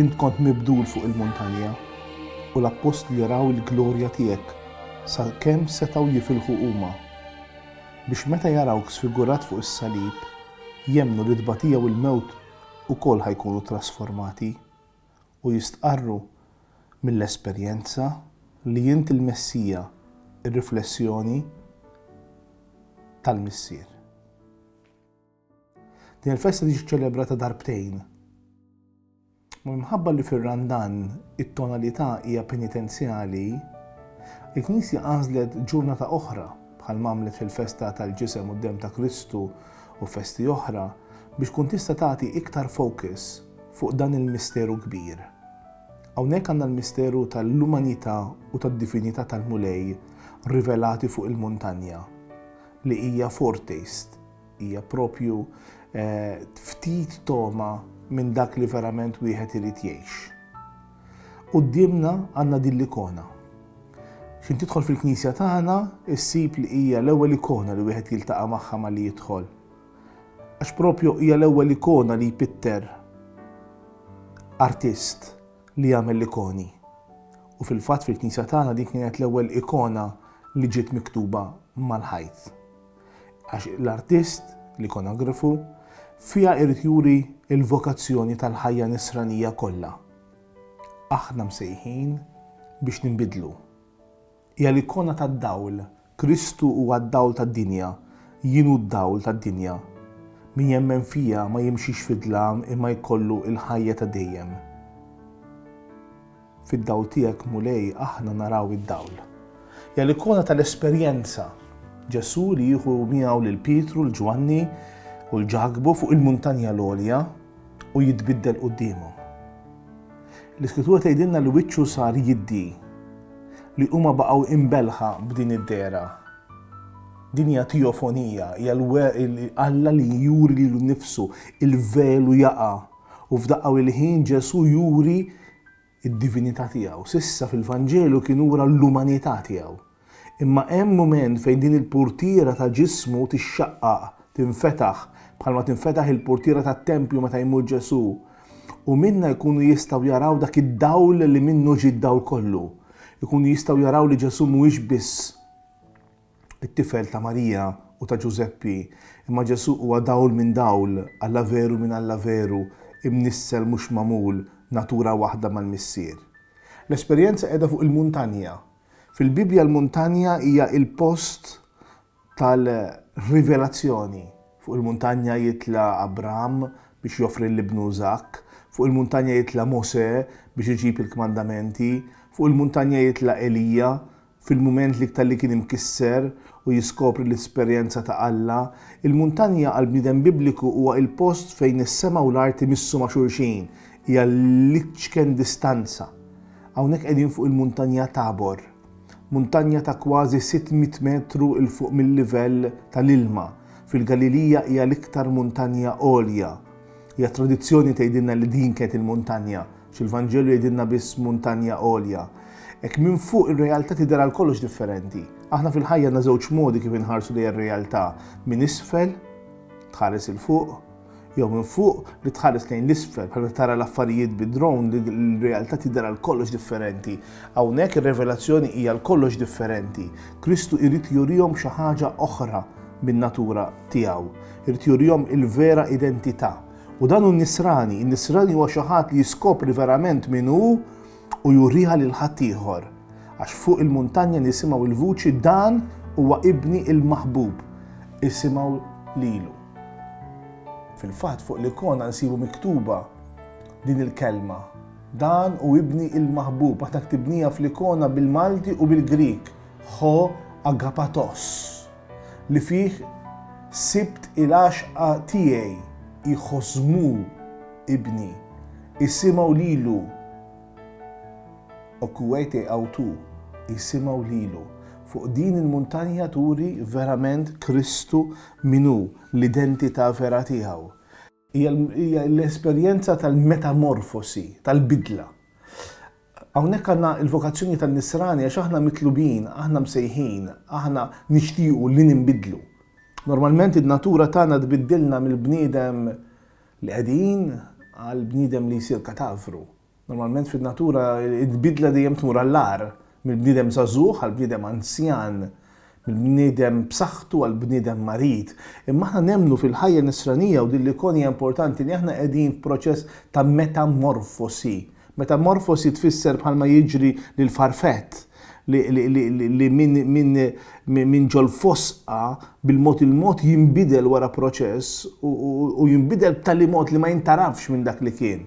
Int kont mibdul fuq il-muntanja, u l-appostli raw il-glorja tiegħek, sa kemm setgħu jifilħu huma, biex meta jarawk sfigurat fuq is-salib, jemmnu li t-tbatija u l-mewt ukoll ħa jkunu trasformati. u jistqarru mill-esperjenza li int il-Messija, ir-riflessjoni tal-Missier. Din il-festa tiġi ċċelebrata darbtejn. Minħabba li fir-Randan it-tonalità hija penitenzjali, il-Knisja għażlet ġurnata oħra bħal mamlet fil-festa tal-ġisem u d-dem ta' Kristu u festi oħra biex kun tista' tagħti iktar fokus fuq dan il-misteru kbir. Hawnhekk għandna l-misteru tal-umanità u tad-divinità tal-Mulej rivelati fuq il-muntanja, li hija foretaste, hija proprju ftit togħma minn dak li verament wieħed irid jgħix. Quddiemna għandna din l-ikona. X'in tidħol fil-knisja tagħna issib li hija l-ewwel ikona li wieħed jiltaqa' magħha malli jidħol. għax propju hija l-ewwel ikona li jpitter artist li jagħmel l-ikoni. U fil-fatt fil-knisja tagħna din kienet l-ewwel ikona li ġiet miktuba mal-ħajt. Għax l-artist, l-ikonografu, fiha jrid juri l-vokazzjoni tal-ħajja nisranija kollha. Aħna msejħin biex ninbidlu. Hija l-ikona tad-dawl. Kristu huwa d-dawl tad-dinja. Jien hu d-dawl tad-dinja. Min jemmen fija ma jimxix fid-dlam imma jkollu l-ħajja ta' dejjem. Fid-dawl tiegħek, Mulej, aħna naraw id-dawl. Hija l-ikona tal-esperjenza. Ġesù li jieħu miegħu lil Pietru, 'l Ġwanni u 'l Ġakbu fuq il-muntanja l-għolja u jitbiddel quddiemhom. L-Iskrittura tgħidilna li wiċċu sar jiddi, li huma baqgħu imbelħa b'din id-dehra. Din hija teofonija, hija Alla li juri lilu nnifsu, il-velu jaqa' u f'daqqa il-ħin Ġesù juri d-divinità tiegħu. S'issa fil-Vanġelu kien ura l-umanità tiegħu. Imma hemm mument fejn din il-purtiera ta' ġismu tixxaqqaq, tinfetaħ, bħalma tinfetaħ il-purtiera tat-tempju meta jmut Ġesù, u minnha jkunu jistgħu jaraw dak id-dawl li minnu ġie d-dawl kollu. Ikunu jistgħu jaraw li Ġesù mhuwiex biss it-tifel ta' Marija u ta' Ġużeppi, imma Ġesù huwa dawl minn dawl, Alla veru minn Alla veru, imnissel mhux magħmul, natura waħda mal-Missier. L-esperjenza qiegħda fuq il-muntanja. Fil-Bibbja l-muntanja hija il-post tal-rivelazzjoni. Fuq il-muntanja jitla' Abraham biex joffri l-ibnu Iżakk, fuq il-muntanja jitla' Mosè biex iġib il-kmandamenti, fuq il-muntanja jitla' Elija fil-mument l-iktar li kien imkisser u jiskopri l-esperjenza ta' Alla. Il-muntanja għall-bniedem Bibliku huwa il-post fejn is-sema u l-art imissu ma' xulxin, hija l-iċken distanza. Hawnhekk qegħdin fuq il-Muntanja Tabor, muntanja ta' kważi sitt mitt metru 'l fuq mil-livell tal-ilma. Fil-Galilija hija l-iktar muntanja għolja. Hija tradizzjoni tgħidilna li din kienet il-muntanja, għax il-Vanġelu jgħidilna biss muntanja għolja. Hekk minn fuq ir-realtà tidher għal kollox differenti. Aħna fil-ħajja għandna żewġ modi kif inħarsu lejn ir-realtà, minn isfel, tħares 'il fuq, jew minn fuq li tħares lejn l-isfel bħal meta tara l-affarijiet bi drone li l-realtà tidher għal kollox differenti. Hawnhekk ir-revelazzjoni hija għal kollox differenti. Kristu jrid jurihom xi ħaġa oħra min-natura tiegħu. Irid jurihom il-vera identità. U dan hu nisrani, in-nisrani huwa xi ħadd li jiskopri verament min hu u juriha lil ħaddieħor. Għax fuq il-muntanja nisimgħu l-vuċi dan huwa ibni il-maħbub. Isimgħu lilu. Fil-fatt fuq l-ikona nsibu miktuba din il-kelma. Dan hu ibni il-maħbub, aħna ktibnija fl-ikona bil-Malti u bil-Grieg, ho agapatos, li fih sibt il-għaxqa tiegħi, ichosmu ibni, isimgħu lilu, okuete autu, isimgħu lilu. Fuq din il-muntanja turi verament Kristu Min hu, l-identità vera tiegħu. Hija l-esperjenza tal-metamorfosi, tal-bidla. Hawnhekk għandna l-vokazzjoni tan-nisrani għax aħna mitlubin, aħna msejħin, aħna nixtiequ li ninbidlu. Normalment in-natura tagħna tbiddilna mill-bniedem li qedin għall-bniedem li jsir katavru. Normalment fin-natura l-bidla dejjem tmur għall-agħar, mill-bniedem żagħżugħ għall-bniedem anzjan, mill-bniedem b'saħħtu għall-bniedem marid. Imma aħna nemmnu fil-ħajja Nisranija u din l-ikon hija importanti li aħna qegħdin f'proċess ta' metamorfosi. Metamorfosi tfisser bħalma jiġri lil farfett li minn ġol-fosqa bil-mod il-mod jinbidel wara proċess u jinbidel b'tali mod li ma jintarafx minn dak li kien.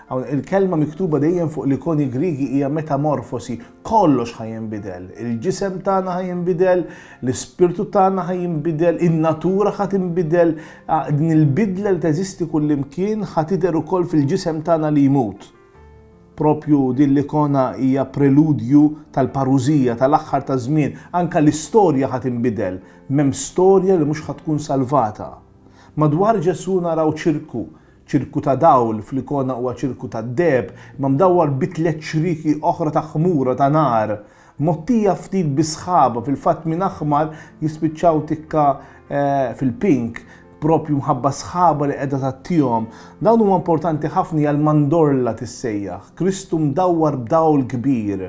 Hawn il-kelma miktuba dejjem fuq l-ikoni Griegi hija metamorfosi, kollox ħa jinbidel. Il-ġisem tagħna ħa jinbidel, l-ispirtu tagħna ħa jinbidel, in-natura ħa tinbidel. Din il-bidla li teżisti kullimkien ħa tidher ukoll fil-ġisem tagħna li jmut. Proprju din l-ikona hija preludju tal-parużija, tal-aħħar taż-żmien. Anke l-istorja ħa tinbidel. M'hemm storja li mhux ħa tkun salvata. Madwar Ġesù naraw ċirku, Ċirku ta' dawl, fl-ikona huwa ċirku tad-deheb, imma mdawwar bi tliet ċrieki oħra ta' ħmura ta' nar, mgħottija ftit bi sħaba, fil-fatt minn aħmar jispiċċaw tikka fil-pink, proprju mħabba s-sħaba li qiegħda tgħattihom. Dawn huma importanti ħafna hija l-mandorla tissejjaħ, Kristu mdawwar b'dawl kbir,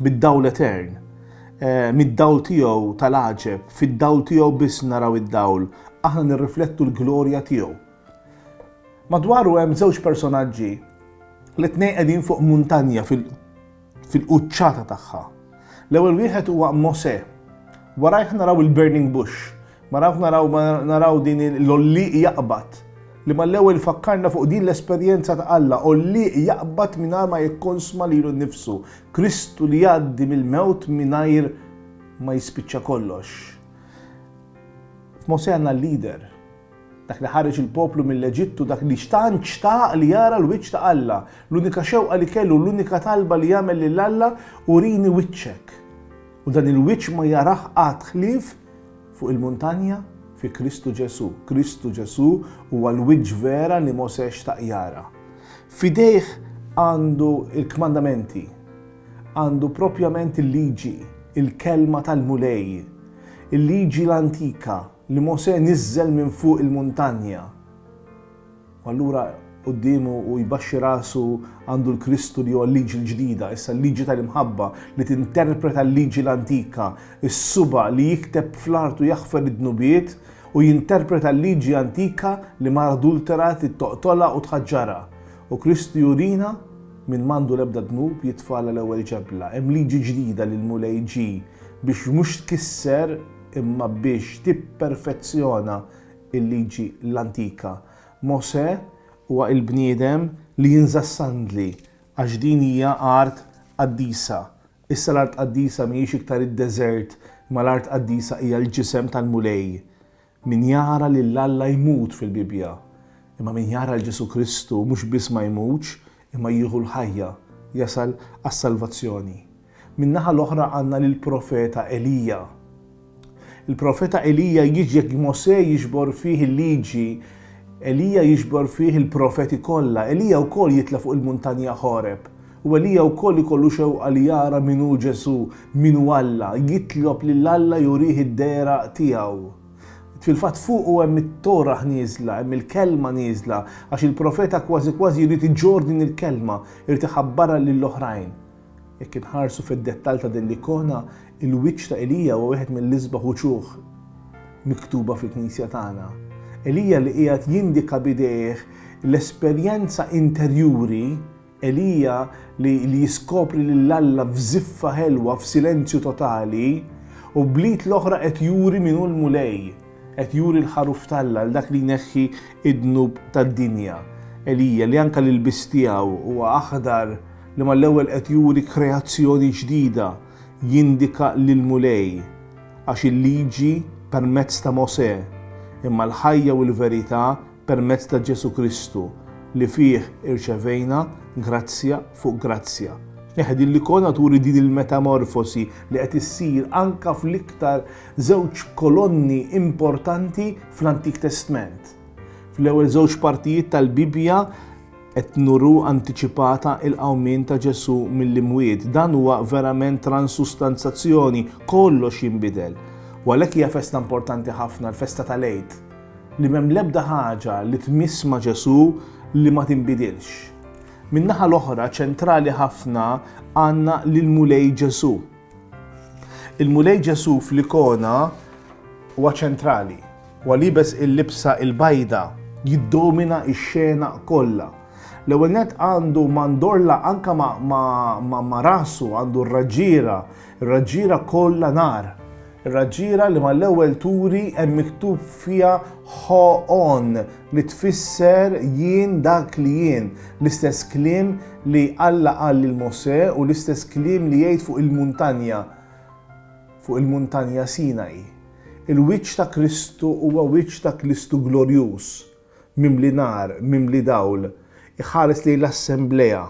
bid-dawl etern. Mid-dawl tiegħu tal-għaġeb, fid-dawl tiegħu biss naraw id-dawl, aħna nirriflettu l-glorja tiegħu. Madwaru hemm żewġ personaġġi li t-tnejn qegħdin fuq muntanja fil-quċċata tagħha. L-ewwel wieħed huwa Mosè. Warajh naraw il-burning bush, maraw naraw naraw din l-ollieq jaqbad li mal-ewwel fakkarna fuq din l-esperjenza ta' Alla, ollieq jaqbad mingħajr ma jikkonsma lilu nnifsu, Kristu li jgħaddi mill-mewt mingħajr ma jispiċċa kollox. F'Mosè għandna l-leader, Dak li ħareġ il-poplu mill-Eġittu, dak li tant xtaq li jara l-wiċċ ta' Alla. L-unika xewqa li kellu, l-unika talba li għamel lil Alla, Urini wiċċek. U dan il-wiċċ ma jarah qatt ħlief fuq il-muntanja fi Kristu Ġesù. Kristu Ġesù huwa l-wiċċ vera li Mosè xtaq jara. F'idejh għandu l-kmandamenti, għandu propjament il-Liġi, il-Kelma tal-Mulej, il-Liġi l-antika, li Mosè niżżel minn fuq il-muntanja, u allura quddiemu u jbaxxi rasu għandu l-Kristu li huwa l-Liġi l-ġdida, issa l-Liġi tal-imħabba li tinterpreta l-Liġi l-antika, is-suba' li jikteb fl-art u jaħfer id-dnubiet u jinterpreta l-Liġi antika li mara adultera trid toqtolha u tħaġġarha. U Kristu jurina min m'għandu l-ebda dnub jitfagħla l-ewwel ġebla. Hemm Liġi ġdida li l-Mulej ġie biex mhux tkisser, imma biex tipperfezzjona l-liġi l-antika. Mosè huwa l-bniedem li jinża' s-sandli għax din hija art qaddisa. Issa l-art qaddisa mhijiex iktar id-deżert imma l-art qaddisa hija l-ġisem tal-Mulej. Min jara lil Alla jmut fil-Bibbja. Imma min jara 'l Ġesù Kristu mhux biss ma jmutx imma jieħu l-ħajja, jasal għas-salvazzjoni. Min-naħa l-oħra għandna lill-profeta Elija. Il-profeta Elija jiġ jekk Mosè jiġbor fih il-Liġi, Elija jiġbor fih il-profeti kollha. Elija wkoll jitla' fuq il-muntanja Ħoreb. U Elija wkoll ikollu xewqa li jara min hu Ġesù, min hu Alla, jitlob lil Alla jurih id-deheraq tiegħu. Fil-fatt fuqu hemm it-Torah nieżla, hemm il-Kelma nieżla, għax il-profeta kważi kważi jrid iġorr din il-Kelma, irid iħabbarha lill-oħrajn. Jekk inħarsu fid-dettall ta' din l-ikona, il-wiċċ ta' Elija huwa wieħed mill-isbaħ uċuħ miktuba fil-Knisja tagħna. Elija li qiegħed jindika b'idejh l-esperjenza interjuri, Elija li jiskopri lil Alla f'żiffa ħelwa f'silenzju totali, u bl-id l-oħra qed juri min hu l-Mulej. Qed juri l-ħaruf t'Alla għal dak li jneħħi d-dnub tad-dinja. Elija, li anke l-ilbies tiegħu huwa aħdar, li mal-ewwel qed juri kreazzjoni ġdida, jindika lill-Mulej. Għax il-Liġi permezz ta' Mosè, imma l-ħajja u l-verità permezz ta' Ġesù Kristu, li fih irċevejna grazzja fuq grazzja. Eħe, din l-ikona turi din il-metamorfosi li qed issir anke fl-iktar żewġ kolonni importanti fl-Antik Testment. Fl-ewwel żewġ partijiet tal-Bibbja qed nuru antiċipata il-qawmien ta' Ġesù mill-imwiet. Dan huwa verament transustanzazzjoni, kollox jinbidel. U għalhekk hija festa importanti ħafna, l-festa tal-Għid. li m'hemm l-ebda ħaġa li tmiss ma' Ġesù li ma tinbidilx. Min-naħa l-oħra, ċentrali ħafna għandna lill-Mulej Ġesù. Il-Mulej Ġesù fl-ikona huwa ċentrali, huwa liebes il-libsa il-bajda, jiddomina x-xena kollha. L-ewwel nett għandu mandorla anka ma' rasu, għandu r-raġġiera, ir-raġġiera kollha nar. Ir-raġġiera li mal-ewwel turi hemm miktub fiha Ho On li tfisser Jien dak li jien, l-istess kliem li Alla qal lil Mosè u l-istess kliem li jgħid fuq il-muntanja, fuq il-muntanja Sinai. Il-wiċċ ta' Kristu huwa wiċċ ta' Kristu glorjuż, mimli nar, mimli dawl, iħares lejn l-assemblea.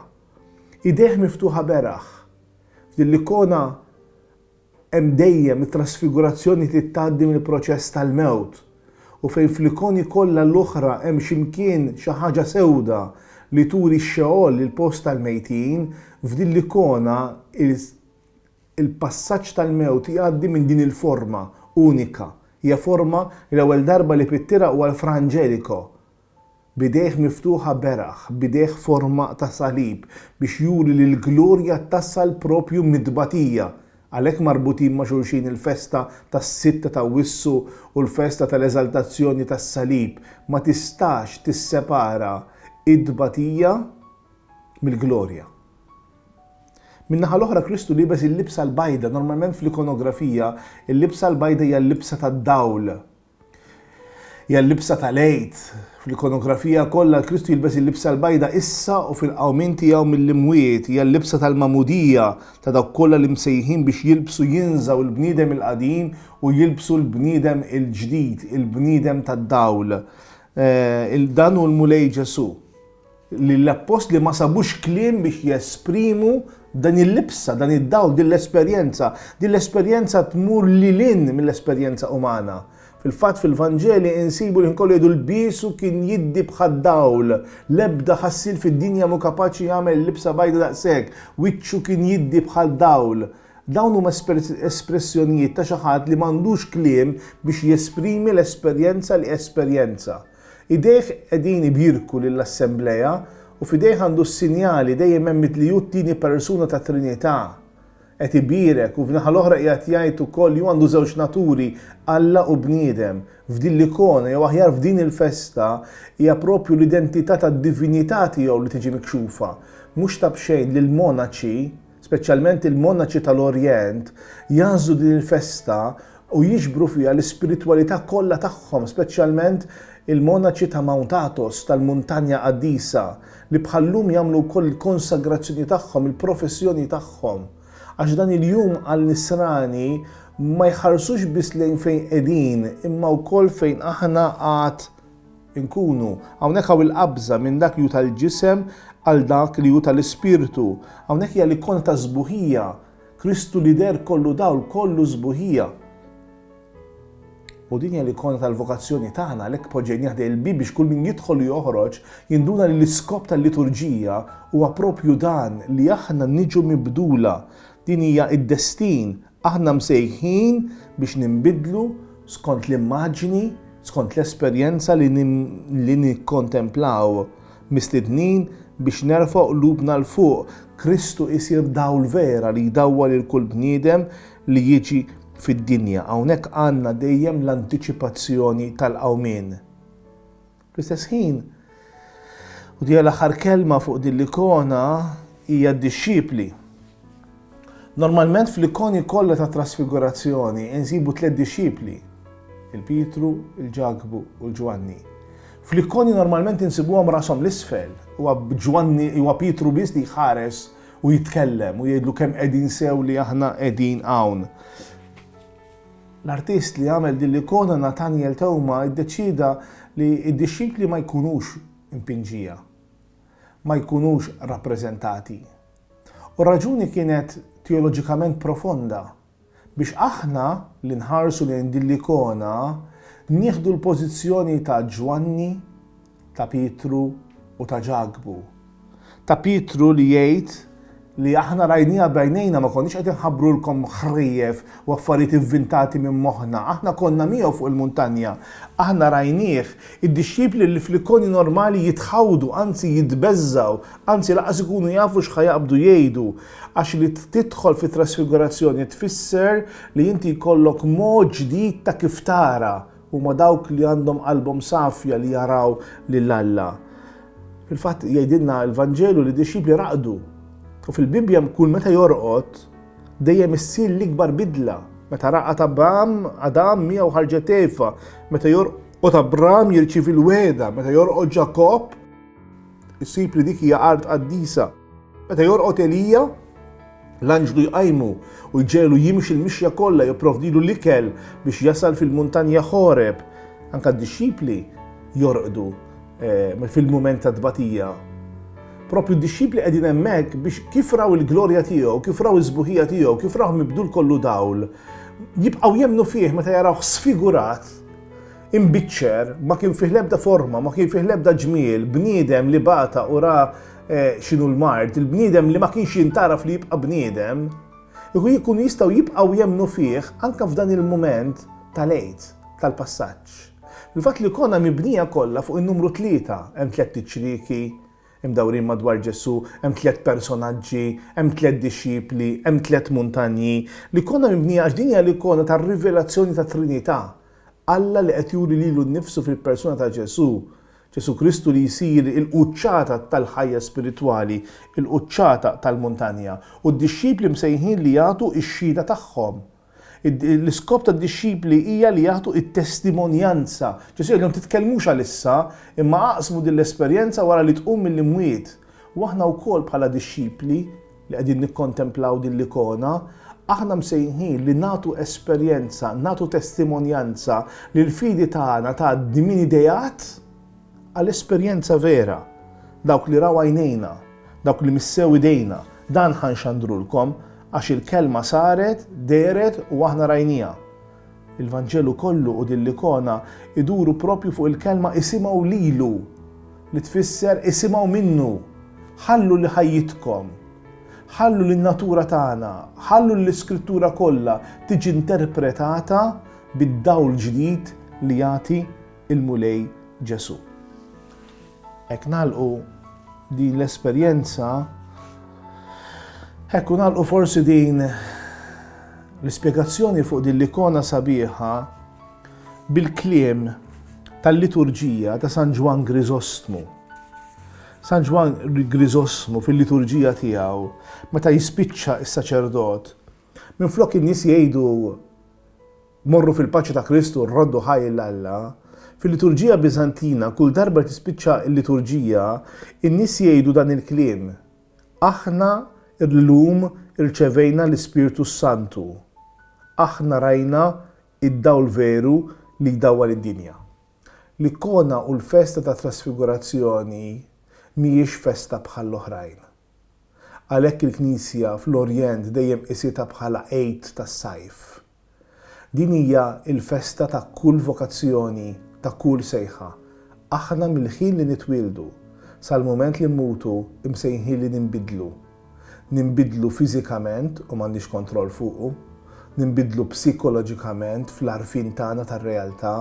Idejh miftuħa beraħ. F'din l-ikona Hemm dejjem it-trasfigurazzjoni trid tgħaddi mill-proċess tal-mewt. U fejn fl-ikoni kollha l-oħra hemm xi mkien xi ħaġa sewda li turi x-Xeol, il-post tal-mejtin, f'din l-ikona il-passaġġ tal-mewt jgħaddi minn din il-forma unika. Hija forma li l-ewwel darba li pittira huwa l-Fra Angelico. b'idejh miftuħa beraħ, b'idejh forma ta' salib, biex juri li l-glorja tasal proprju mit-tbatija. Għalhekk marbutin ma' xulxin il-festa tas-Sitt ta' Awwissu u l-festa tal-Eżaltazzjoni tas-Salib. Ma tistax tissepara t-tbatija mill-glorja. Min-naħa l-oħra Kristu liebes il-libsa l-bajda, normalment fl-ikonografija, il-libsa l-bajda hija l-libsa tad-dawl, Hija l-libsa tal-Għid. Fl-ikonografija kollha Kristu jilbes il-libsa l-bajda issa u fil-qawmien tiegħu mill-imwiet. Hija l-libsa tal-magħmudija ta' dawk kollha li msejħin biex jilbsu jinżgħu l-bniedem il-qadim u jilbsu l-bniedem il-ġdid, il-bniedem tad-dawl. Dan hu l-Mulej Ġesù. li l-appostli ma sabux kliem biex jesprimu dan il-libsa, dan id-dawl, din l-esperjenza. Din l-esperjenza tmur lil hinn mill-esperjenza umana. Fil-fatt fil-Vanġeli insibu li kollu jgħidu lbiesu kien jiddi bħad-dawl, l-ebda ħassiel fid-dinja mhu kapaċi jagħmel il-libsa bajda daqshekk, wiċċu kien jiddi bħad-dawl. Dawn huma espressjonijiet ta' xi ħadd li m'għandux kliem biex jesprimi l-esperjenza li esperjenza. Idejh qegħdin ibjirku lill-Assemblea u f'idejh għandu s-sinjali, dejjem hemm li hu t-Tieni Persuna tat-Trinità. Qed ibierek u f'naħa l-oħra qiegħed jgħid ukoll li hu għandu żewġ naturi, Alla u bniedem. F'din l-ikona, jew aħjar f'din il-festa, hija proprju l-identità tad-divinità tiegħu li tiġi mikxufa. Mhux ta' b'xejn li l-monaċi, speċjalment il-monaċi tal-Orjent, jagħżlu din il-festa u jiġbru fiha l-ispiritwalità kollha tagħhom, speċjalment il-monaċi ta' Mount Athos, tal-Muntanja Qaddisa, li bħal-lum jagħmlu wkoll il-konsagrazzjoni tagħhom, il-professjoni tagħhom. Għax dan il-jum għall-Nisrani ma jħarsux biss lejn fejn qegħdin imma wkoll fejn aħna għad inkunu. Hawnhekk hawn il-qabża minn dak li hu tal-ġisem għal dak li hu tal-ispirtu. Hawnhekk hija l-ikona ta' sbuħija, Kristu li deher kollu dawl, kollu sbuħija. U din hija l-ikona tal-vokazzjoni tagħna għalhekk poġġejnieh ħdejn il-bieb biex kull min jidħol u joħroġ jinduna li l-iskop tal-liturġija huwa proprju dan li aħna niġu mibdula. Din hija d-destin Aħna msejħin biex ninbidlu skont l-immaġni, skont l-esperjenza li nikkontemplaw. Mistednin biex nerfgħu qlubna 'l fuq, Kristu jsir dawl vera li jdawwal 'il kull bniedem li jiġi fid-dinja. Hawnhekk għandna dejjem l-antiċipazzjoni tal-qawmien. Fl-istess ħin, u dija l-aħħar kelma fuq din l-ikona, hija d-dixxipli. Normalment fl-ikoni kollha ta' trasfigurazzjoni insibu tliet dixxipli, il-Pietru, il-Ġakbu u l-Ġwanni. Fl-ikoni normalment insibuhom rashom l-isfel, huwa Ġwanni huwa Pietru biss li jħares u jitkellem u jgħidlu kemm qegħdin sew li aħna qegħdin hawn. L-artist li għamel din l-ikona Nathaniel Theuma iddeċieda li d-dixxipli ma jkunux impinġija, ma jkunux rappreżentati. U r-raġuni kienet teoloġikament profonda, biex aħna li nħarsu lejn din l-ikona nieħdu l-pożizzjoni ta' Ġwanni, ta' Pietru u ta' Ġakbu. Ta' Pietru li jgħid li aħna rajniha b'għajnejna ma konniex qed inħabbrulkom ħrief u affarijiet invintati minn moħħna, aħna konna miegħu fuq il-muntanja, aħna rajnieh. Id-dixxipli li fl-Ikonju normali jitħawdu, anzi jitbeżżgħu, anzi lanqas ikunu jafu x'ħa jaqbdu jgħidu, għax li tidħol fit-trasfigurazzjoni tfisser li inti jkollok mod ġdid ta' kif tara, Huma dawk li għandhom qalbhom safja li jaraw lil Alla. Fil-fatt jgħidilna l-Vanġelu li d-dixxipli raqdu. U fil-Bibbja hemm kull meta jorqod dejjem issir l-ikbar bidla. Meta raqad Abram, Adam miegħu ħarġet Eva. Meta jorqod Abram jirċievi l-wegħda, meta jorqod Ġakobb, issib li dik hija art qaddisa. Meta jorqod Elija, l-anġlu jqajmu u jġegħlu jimxi l-mixja kollha, jipprovdilu l-ikel biex jasal fil-muntanja Ħoreb. Anke d-dixxipli jorqdu eh, fil-mument tat-tbatija. Propju d-dixxipli qegħdin hemmhekk biex kif raw il-glorja tiegħu, kif raw is-sbuħija tiegħu, kif raw mibdul kollu dawl, jibqgħu jemmnu fih meta jarawh sfigurat Imbiċċer, ma kien fih l-ebda forma, ma kien fih l-ebda ġmiel, bniedem li bata u ra eh, x'inhu l-mard, il-bniedem li ma kienx jintaraf li jibqa' bniedem, ikun jkun jistgħu jibqgħu jemmnu fih anke f'dan il-mument tal-għid, tal-passaġġ. Il-fatt li l-kona mibnija kollha fuq in-numru tlieta, hemm tliet iċrieki, imdawrin madwar Ġesu, hemm tliet personaġġi, hemm tliet dixxipli, hemm tliet muntanji, li kona mibnija għax din hija l-ikona tar-rivelazzjoni tat-Trinità. Alla li qed juri lilu nnifsu fil-persuna ta' Ġesù, Ġesù Kristu li jsir il-quċċata tal-ħajja spiritwali, il-quċċata tal-muntanja, u d-dixxipli msejħin li jagħtu x-xhieda tagħhom. L-iskop tad-dixxipli hija li jagħtu t-testimonjanza. Ġesù jgħidilhom, Titkellmux għal issa, imma aqsmu din l-esperjenza wara li tqum mill-imwiet. U aħna wkoll bħala dixxipli, li qegħdin nikkontemplaw din l-ikona, aħna msejħin li nagħtu esperjenza, nagħtu testimonjanza li l-fidi tagħna tgħaddi minn ideat għal esperjenza vera. Dawk li raw għajnejna, dawk li missew idejna, dan ħa nxandrulkom għax il-kelma saret, dehret u aħna rajniha. Il-Vanġelu kollu u din l-ikona jduru proprju fuq il-kelma isimgħu lilu, li tfisser isimgħu minnu. Ħallu li ħajjitkom, ħallu li n-natura tagħna, ħallu li l-Iskrittura kollha tiġi interpretata bid-dawl ġdid li jagħti l-Mulej Ġesù. Hekk nagħlqu din l-esperjenza, hekk u nagħlqu forsi din l-ispjegazzjoni fuq din l-ikona sabiħa bil-kliem tal-liturġija ta' San Ġwan Grizostmu. San Ġwan Grizosmu fil-liturġija tiegħu meta jispiċċa s-saċerdot, minflok in-nies jgħidu Morru fil-paċi ta' Kristu, rroddu ħaj 'l Alla. Fil-liturġija Biżantina, kull darba li tispiċċa l-liturġija, in-nies jgħidu dan il-kliem, Aħna llum irċevejna l-Ispirtu s-Santu. Aħna rajna d-dawl veru li jdawwal id-dinja. L-ikona u l-festa tat-Trasfigurazzjoni mhijiex festa bħall-oħrajn. Għalhekk il-Knisja fl-Orjent dejjem qisietha bħala Għid tas-Sajf. Din hija l-festa ta' kull vokazzjoni, ta' kull sejħa. Aħna mill-ħin li nitwieldu sal-mument li mmutu msejħin li ninbidlu. Ninbidlu fiżikament u m'għandniex kontroll fuqu. Ninbidlu psikoloġikament fl-għarfien tagħna tar-realtà.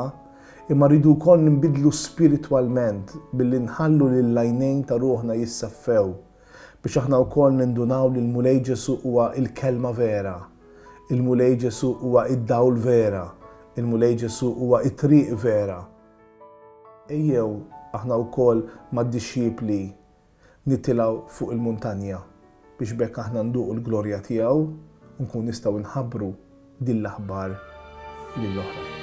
Imma rridu wkoll ninbidlu spiritwalment billi nħallu lill-għajnejn ta' ruħna jisseffew biex aħna wkoll nindunaw li l-Mulej Ġesù huwa l-Kelma vera, il-Mulej Ġesù huwa d-dawl vera, il-Mulej Ġesù huwa t-triq vera. Ejjew aħna wkoll mad-dixxipli Nitilgħu fuq il-muntanja biex b'hekk aħna nduqu l-glorja tiegħu u nkunu nistgħu nħabbru din l-aħbar lil oħrajn.